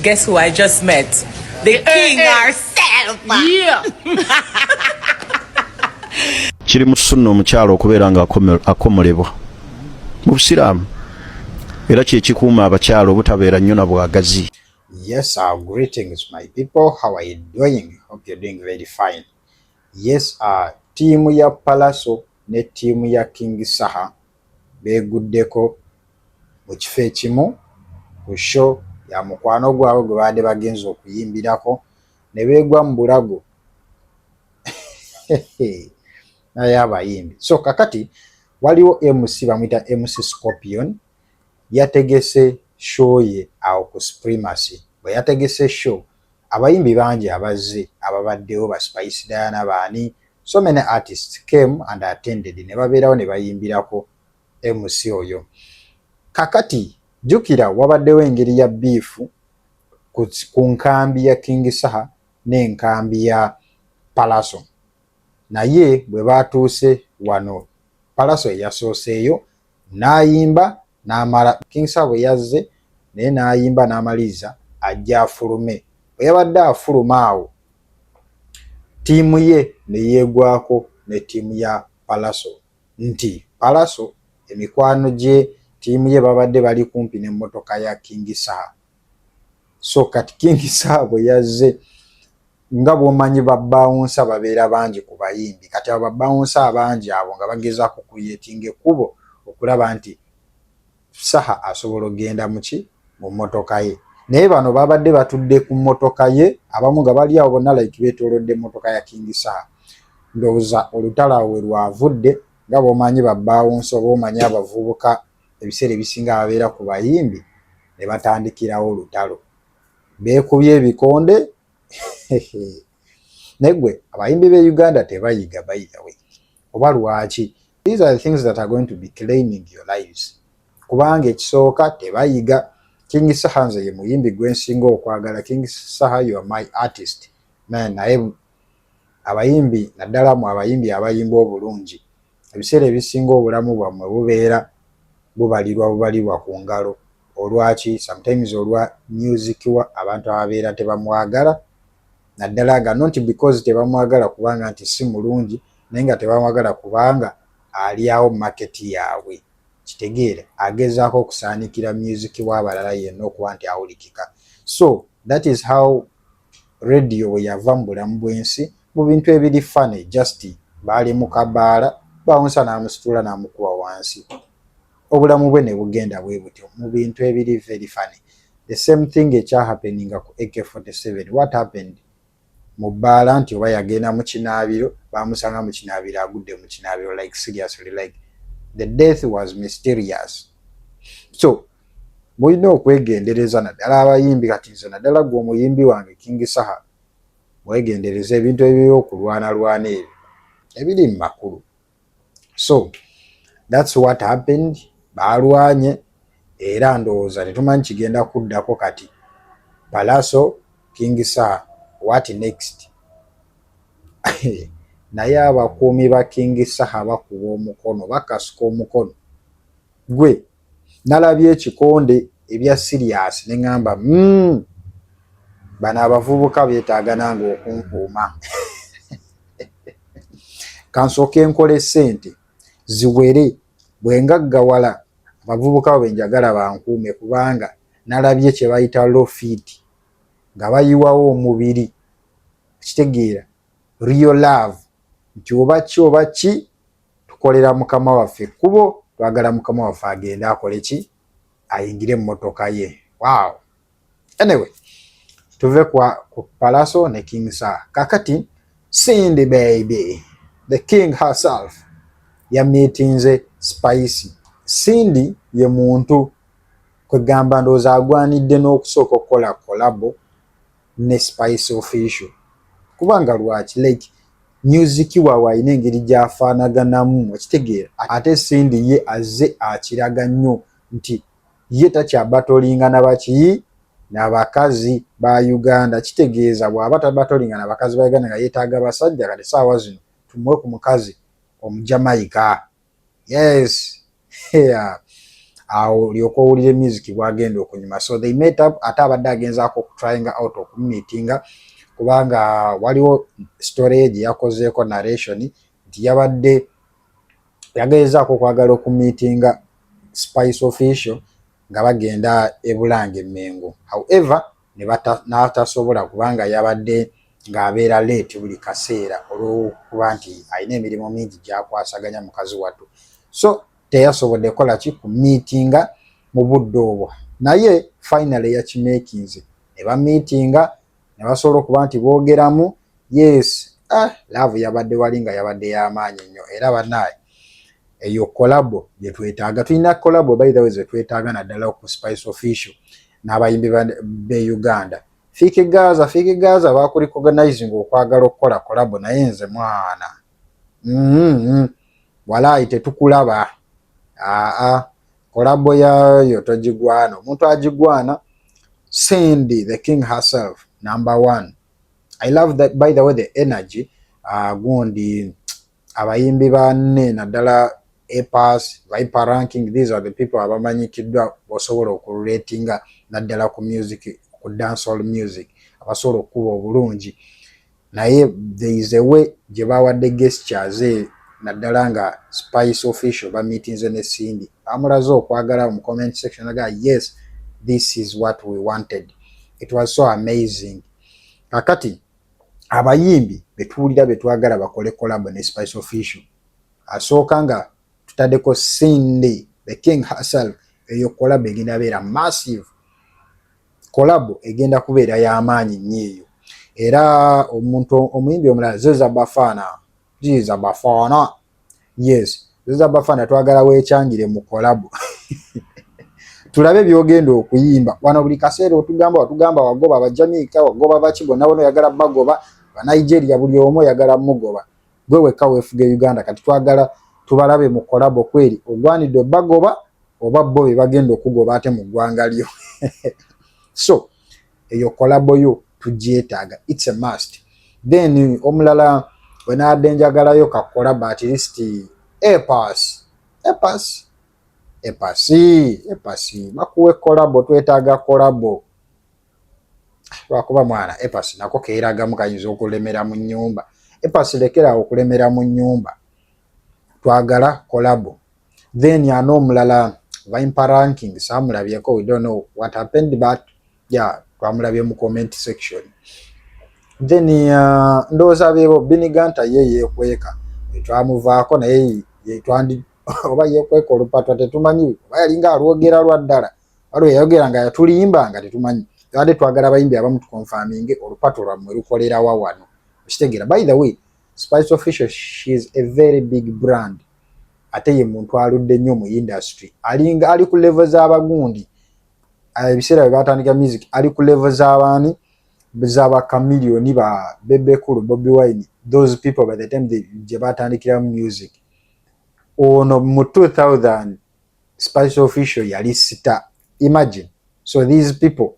Guess who I just met? The king herself. Yeah. kiri mu sunna omukyalo okubeera nga akomolebwa mu busiraamu era kyekikuuma abakyalo obutabeera nnyo na bwagazi yes our greetings my people how are you doing hope you're doing very fine Yes a ttiimu ya Pallaso ne ttiimu ya King Saha beeguddeko mu kifo ekimu ku sho ya mukwano gwabwe gwe baadde bagenze okuyimbirako ne beegwa mu bulago naye abayimbi so kakati waliwo mc bamuyita mc scorpion yategese show ye awo ku supremacy bwe yategese show Abayimbi bangi abazze ababaddewo ba Spice Diana baani? So many artists came and attended ne babeerawo ne bayimbirako MC oyo. Kakati jjukira wabaddewo engeri ya biifu ku nkambi ya King Saha n'enkambi ya Palaso. Naye bwe baatuuse wano Palaso eyasooseeyo n'ayimba n'amala King Sabo yazze naye n'ayimba n'amaliriza ajja afulume bwe yabadde afuluma awo ttiimu ye ne yeegwako ne ttiimu ya Palaso nti Palaso emikwano gye ttiimu ye babadde bali kumpi n'emmotoka ya King Saha so kati king saabwe yazze nga bwomanyi babawunsa babeera bangi ku bayimbi kati abo babawunsa abangi abo nga bagezaako kuyetinga ekkubo okulaba nti saha asobola okugenda muki mu mmotoka ye naye bano babadde batudde ku mmotoka ye abamu nga bali awo bonna like betolodde mmotoka ya king saha ndowooza olutalo awe lwavudde nga bwomanyi babawunsa oba omanyi abavubuka ebiseera ebisinga babeera ku bayimbi ne batandikirawo olutalo beekubye ebikonde naye gwe abayimbi b'e uganda tebayiga by the way oba lwaki these are the things that are going to be claiming your lives kubanga ekisooka tebayiga king saha nze ye muyimbi gwensinga okwagala king saha you are my artist naye Abayimbi naddala mwe abayimbi abayimba obulungi ebiseera ebisinga obulamu bwamwe bubeera bubalirwa bubalirwa ku ngalo olwaki sometimes olwa music wa abantu ababeera tebamwagala naddala nga not because tebamwagala kubanga nti si mulungi naye nga tebamwagala kubanga alyawo market yaabwe kitegeere agezaako okusaanikira music wa abalala yenna okuba nti awulikika so that is how Radio bwe yava mu bulamu bw'ensi mu bintu ebiri funny just baali mu kabaala bawunsa n'amusitula n'amukuba wansi obulamu bwe ne bugenda bwe butyo mu bintu ebiri very funny the same thing ekya happeninga ku AK47 what happened mu bbaala nti oba yagenda mu kinaabiro baamusanga mu kinaabiro agudde mu kinaabiro like seriously like the death was mysterious so mulina okwegendereza naddala abayimbi kati nze naddala gwe omuyimbi wange king saha mwegendereza ebintu ebiri okulwanalwana ebyo ebiri mu makulu so thats what happened baalwanye era ndowooza tetumanyi kigenda kuddako kati palaso king saha what next naye abakuumi ba king saha bakuba omukono bakasuka omukono gwe nalabye ekikonde ebya serious ne ngamba mm, bano abavubuka betaaga nange okunkuuma kansooke nkola esente ziwere bwengaggawala abavubuka bwe njagala bankuume kubanga nalabye kye bayita low feed nga bayiwawo omubiri kitegeera real love nti oba ki oba ki tukolera mukama waffe ekkubo twagala mukama waffe agende akole ki ayingire emmotoka ye wow anyway tuve kwa ku palaso ne king sa kakati sindi baby the king herself yamitinze spice sindi ye muntu kwegamba ndowooza agwanidde n'okusooka okukola kolabo ne spice official kubanga lwaki like music wawe alina engeri gyafaanaganamu okitegeera ate sindi ye azze akiraga nnyo nti ye takyabatolinga nabaki nabakazi ba uganda kitegeeza bwaba tabatolinga nabakazi ba uganda nga yetaaga basajja kati saawa zino tumuwe ku mukazi omujamaika yes yeah. awo olyoka owulire music bwagenda okunyuma so they met up ate abadde agenzaako okutryinga out okumumitinga kubanga waliwo story gye yakozeeko narration nti yabadde yageezaako okwagala okumitinga spice official nga bagenda ebulange mengo however n'atasobola kubanga yabadde ng'abeera leeti buli kaseera olw'okuba nti alina emirimu mingi gyakwasaganya mukazi wattu so teyasobodde kola ki ku miitinga mu budde obwo naye finally yakimeekinze ne bamiitinga ne basobola okuba nti boogeramu yes ah, laavu yabadde wali nga yabadde y'amaanyi nnyo era banaye eyo kolabo gyetwetaaga tulina kolabo by the way zetwetaaga naddala ku spice official n'abayimbi be uganda fiiki gaza fiiki gaza bakulicoganizing okwagala okukola kolabo naye nze mwana mm-hmm. walaayi tetukulaba aa kolabo yayo togigwana omuntu agigwana cindy the king herself number one i love that by the way the energy uh, gundi abayimbi banne naddala Epas, Viper Ranking, these are the people abamanyikiddwa bosobola okululetinga naddala ku music ku dancehall music abasobola okukuba obulungi naye there is a way gye bawadde gestures e naddala nga spice official bamitinze ne Cindy bamulaze okwagala mu comment section naga yes this is what we wanted it was so amazing kakati abayimbi betuwulira betwagala bakole collab ne spice official asooka nga tutadeko cindy the king herself eyo collab egenda beera massive collab egenda kubeera yamaanyi nnyo eyo era omuntu omuyimbi omulala zeza bafana Jiza Bafana. Yes. Jiza Bafana twagala wekyangire mu collab. Tulabe byogenda okuyimba. Wano buli kaseera otugamba otugamba wagoba abajamiika wagoba baki bonna bono yagala bagoba ba Nigeria buli omu yagala mugoba. Gwe wekka wefuge Uganda kati twagala tubalabe mu collab kweri ogwanidde bagoba oba bo be bagenda okugoba ate mu ggwanga lyo. So eyo kolabo yo tugyetaaga its a must then omulala wenaadde njagalayo kakolabo at least epas epas epasi epasi bakuwe kolabo twetaaga kolabo lwakuba mwana epasi nako keeragamu kayinza okulemera mu nyumba epasi lekeraawo okulemera mu nyumba twagala kolabo then ano omulala vimpa ranking samulabyeko we don't know what happened but yeah twamulabye mu comment section then uh, ndowooza bebo biniganta ye yekweka twamuvaako naye yetwandi oba yekweka olupatwa tetumanyi oba yalinga alwogera lwa ddala waliwo yayogera nga yatulimba nga tetumanyi yade twagala abayimbi abamu tukonfaminge olupatu lwammwe lukolerawa wano okitegeera by the way spice official she is a very big brand ate ye muntu aludde nnyo mu industry alinga ali ku level z'abagundi ah, ebiseera bye baatandika music ali ku level z'abaani z'aba kamiliyoni ba bebekulu bobi wine those people by the time gye baatandikira mu music ono mu 2000 spice official yali sita imagine so these people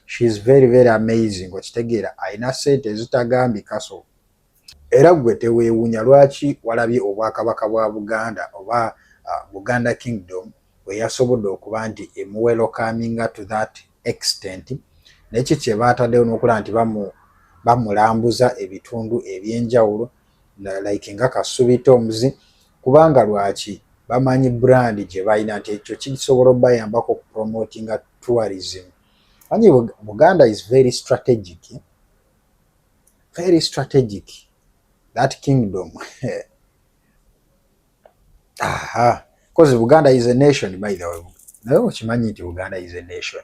she is very very amazing okitegeera alina sente ezitagambikaso Era ggwe teweewuunya lwaki walabye Obwakabaka bwa Buganda oba Buganda Kingdom bwe yasobodde okuba nti emuwelokaminga to that extent ne ki kye baataddewo n'okulaba nti bamulambuza ebitundu eby'enjawulo like nga Kasubi Tombs kubanga lwaki bamanyi brand gye balina nti ekyo kisobola obayambako okupromotinga tourism. Anyi Buganda is very strategic. very strategic that kingdom aha because Buganda is a nation by the way naye okimanyi nti Buganda is a nation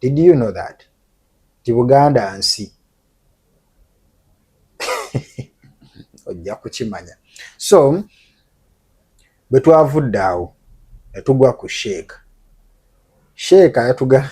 did you know that nti Buganda nsi ojja kukimanya so bwe twavudde awo ne tugwa ku sheeka sheeka yatuga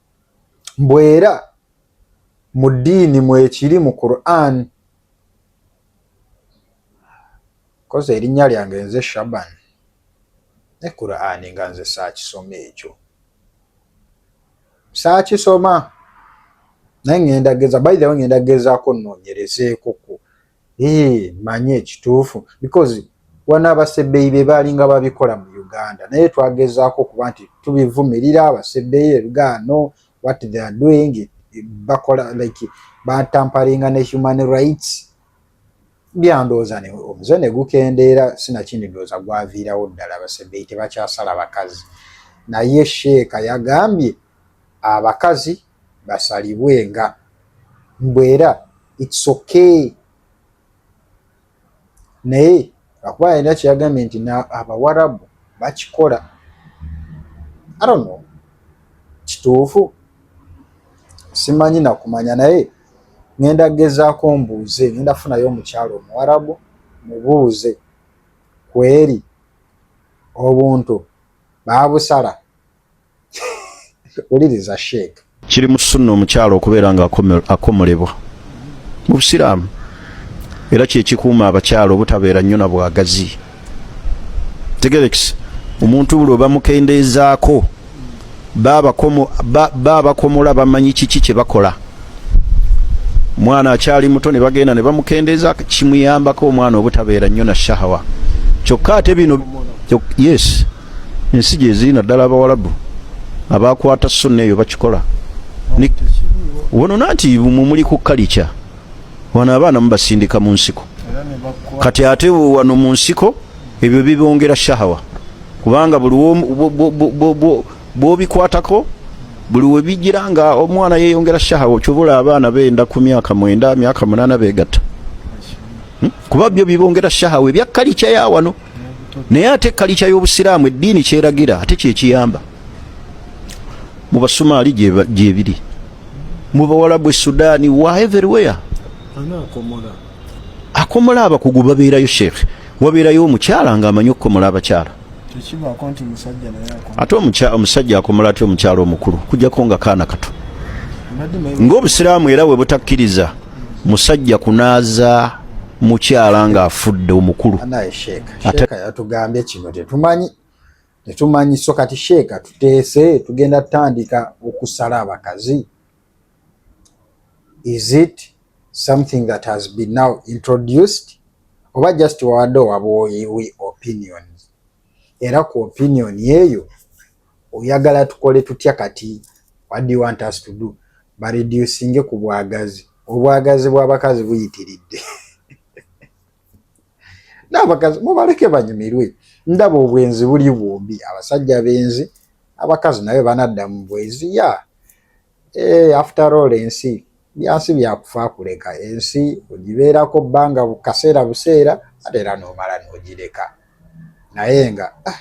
mbu era mu ddiini mwekiri mu quran kozi erinnya lyange nze shaban ne quran nga nze saakisoma ekyo saakisoma naye ŋenda geza baithawe ŋenda gezaako nnoonyerezeekoko Eee manyi ekituufu because wana abasebeyi bebalinga babikola mu Uganda naye twagezaako okuba nti tubivumirira abasebeyi ebigaano what they are doing bakola like batamparinga ne human rights byandooza ne omuze ne gukendeera sinakindi ndooza gwaviirawo ddala abasebeyi tebakyasala bakazi naye sheeka yagambye abakazi basalibwe nga mbwera it's okay naye akuba yalina kyeyagambye nti abawarabu bakikola arono kituufu simanyi nakumanya naye ngenda gezaako mbuuze ngenda funayo omukyalo omuwarabu mubuuze kweri obuntu babusala wuliriza sheek kiri mu sunna omukyalo okubeera nga akomolebwa mu busiraamu era kyekikuuma abakyalo obutabeera nnyo na bwagazi tegerekisa omuntu buli obamukendeezaako babakomola bamanyi kiki kyebakola omwana akyali muto ne bagenda ne bamukendeeza kimuyambako omwana obutabeera nnyo na shahawa kyokka ate bino yes ensi gyeziri naddala abawalabu abakwata sunna eyo bakikola wonona nti mumuli ku kalica wano abaana mubasindika mu nsiko kati ate wano mu nsiko ebyo bibongera shahawa kubanga buli bwobikwatako buli webijira nga omwana yeyongera shahawa okyobula abaana benda ku myaka mwenda myaka munana begatta hmm? kuba byo bibongera shahawa ebyakkalica ya wano naye ate kalica y'obusiraamu eddiini kyeragira ate kyekiyamba mu basumaali gyebiri mu bawalabu esudaani wa everywhere akomola abakugu babeerayo sheekh wabeerayo omukyala nga amanyi okukomola abakyala ate omusajja akomola atya omukyala omukulu kujjako nga kaana kato ngaobusiraamu era webutakkiriza musajja kunaaza mukyala nga afudde omukulu anaye sheeka sheeka yatugambye kino tetumanyi tetumanyi so kati sheeka tuteese tugenda tutandika okusala abakazi is it something that has been now introduced oba just wawadde owabwoyiwi opinions era ku opinion eyo oyagala tukole tutya kati what do you want us to do bareducinge ku bwagazi obwagazi bw'abakazi buyitiridde n'abakazi mubaleke banyumirwe ndaba obwenzi buli bwombi abasajja benzi abakazi naye banadda mu bwenzi ya eh, after all ensi byansi byakufa kuleka ensi ogibeerako bbanga bukaseera buseera ate era n'omala n'ogireka naye nga ah,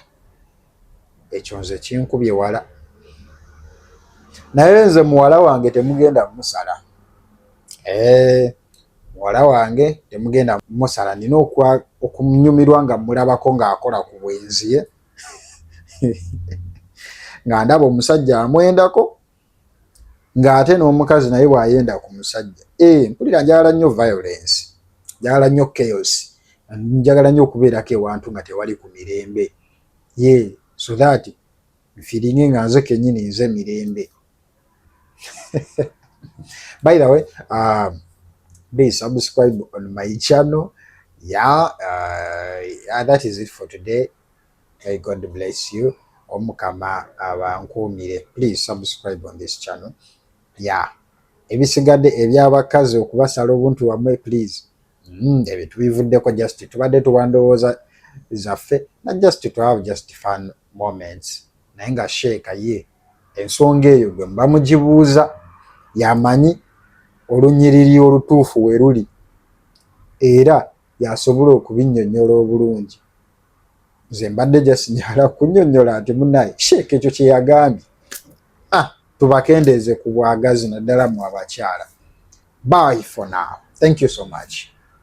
ekyo nze kinkubye wala naye nze muwala wange temugenda musala eh, muwala wange temugenda musala nina okumnyumirwa nga mulabako ngaakola ku bwenziye nga ndaba omusajja amwendako ng'ate n'omukazi naye bw'ayenda ku musajja ee eh, mpulira njagala nnyo violence njagala nnyo chaos njagala nnyo okubeerako ewantu nga tewali ku mirembe ye so that nfiringe nga nze kennyini nze mirembe by the way um, please subscribe on my channel yeah uh, that is it for today Hey, God bless you. Omukama abankuumire. Please subscribe on this channel. Yeah. Ebisigadde eby'abakazi okubasala obuntu wamwe please. Mm, ebyo tubivuddeko just tubadde tuwandowooza zaffe na just to have just fun moments. Naye nga sheeka ye ensonga eyo gwe mba mugibuuza yamanyi olunyiriri olutuufu we luli era yasobola okubinnyonnyola obulungi. nze mbadde just nyala kunyonyola nti munaye sheeka ekyo kyeyagambye ah, tubakendeeze ku bwagazi naddala mu abakyala bye for now thank you so much